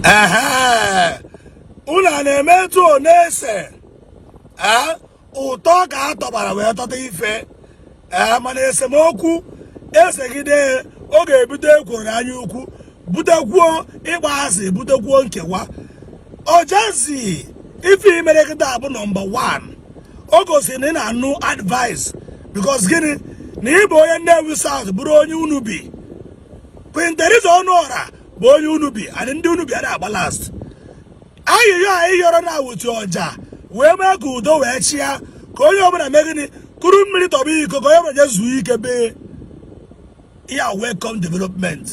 ehe unu a na-eme etu ọ na-ese ee ụtọ ka a tọbara wee tọta ife ee mana esemokwu esegide ọ ga-ebute ekworo anya ukwu butekwuo ịgba asị butekwuo nkewa Ojazzy ife i mere kịta bụ nọmba 1 o gosiri na ị na-anụ advice because gịnị na ị bụ onye Nnewi South bụrụ onye Unubi Queen Theresa Onuorah bụ onye Unubi and ndị Unubi a na-agba last ayịyọ anyị yọrọ na awụtu ọja wee mee ka udo wee chịa ka onye ọbụla mee gịnị kuru mmiri tọba iko ka onye ọbụla jee zuo ike be ya welcome development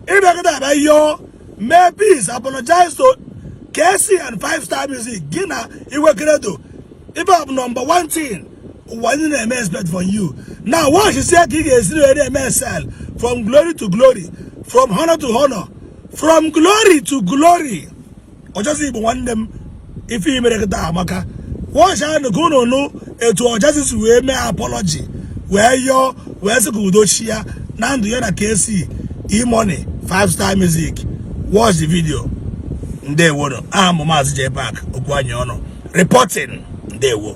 ị bịa kịta bịa yọọ mee peace apologize to Kcee and five star music gị na Igwe Credo ibe bụ nọmba 1 thing ụwa ndị na-eme expect from you now watch sie ka ị ga-esi wee eme excel from glory to glory from honor to honor from glory to glory Ojazzy Igbo nwanne m ife i mere kịta amaka watch anụ ka unu nụ etu Ojazzy si wee mee apology wee yọọ wee sị ka udo chịa na ndụ ya na Kcee E-Money five star music watch the video ndewo aha m maazị J Park okwu anyị ọnụ reporting ndewo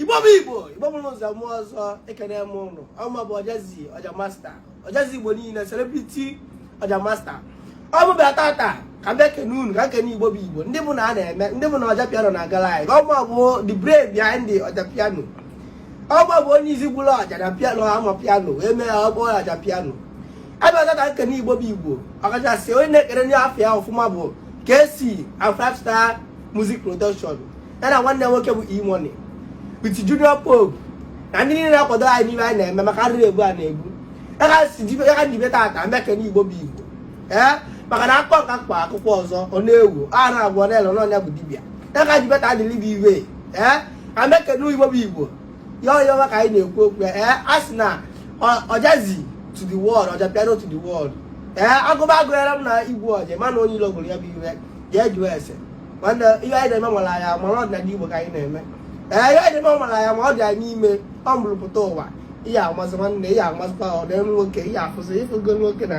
igbo bụ igbo igbo bụrụ ụzọ mụọ ọzọ ekene m ụnụ ọ mụa bụ Ojazzy ọja master Ojazzy igbo niile celebrity ọja master ọ mụ bịa tata ka m bịa kene unu ka m kene igbo bụ igbo ndị bụ na a na-eme ndị bụ na ọja piano na agala anyị ọ mụa bụ the brain behind the ọja piano ọ mụa bụ onye isi gburu ọja na piano amapiano wee mee ya ọ bụ ọja piano abịaza ka m kene igbo bụ igbo ọkachasị onye na-ekere ndị afọ ya ọfụma bụ Kcee and five star music production ya na nwanne nwoke bụ E-Money with Junior Pope na ndị niile na-akwado anyị n'ihe anyị na-eme maka arịrị egbu a na-egbu ya ka m ji bịa tata m ekene igbo bụ igbo ee maka na akpọ nka kpa akwụkwọ ọzọ ọ na-ewu a na-agwọ ọ na-ele na ọ nya bụ dibịa ya ka m ji bịa tata dịrị bụ iwe ee ka m ekene igbo bụ igbo ya onye ọma ka anyị na-ekwu okwu ya ee a sị na Ojazzy to the world ọja piano to the world ee a gụba a gụghara m na igbu ọja mana onye ilo gụrụ ya bụ iwe gaa jụọ ese nwanne ihe anyị na-eme nwere anyị ama na ọdịnala Igbo ka anyị na-eme ee ihe anyị na-eme nwere anyị ama ọ dị anyị n'ime ọ mụrụpụta ụwa ihe amasị nwanne ihe amasịkwa ọ dị nwoke ihe afụsị ịfụgo nwoke na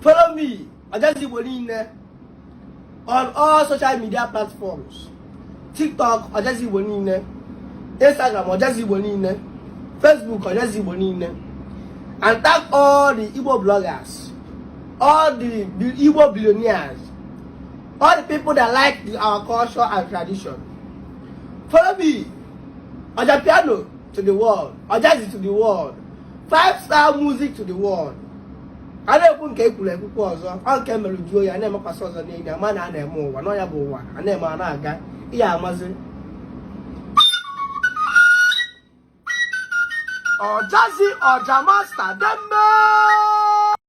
follow me ọjazi igbo niile on all social media platforms tiktok ọjazi igbo niile instagram ọjazi igbo niile facebook ọjazi igbo niile and tag all the igbo bloggers all the, the igbo billionaires all the people that like the, our culture and tradition follow me ọja piano to the world ọjazi to the world five star music to the world a na-ekwu nke e kwuru e kwukwuo ọzọ ọ nke e mere juo ya na-emekwasị ọzọ n'enyi ama na a na-eme ụwa na ọ nya bụ ụwa a na-eme a na-aga ihe amazi Ojazzy ọja master dembe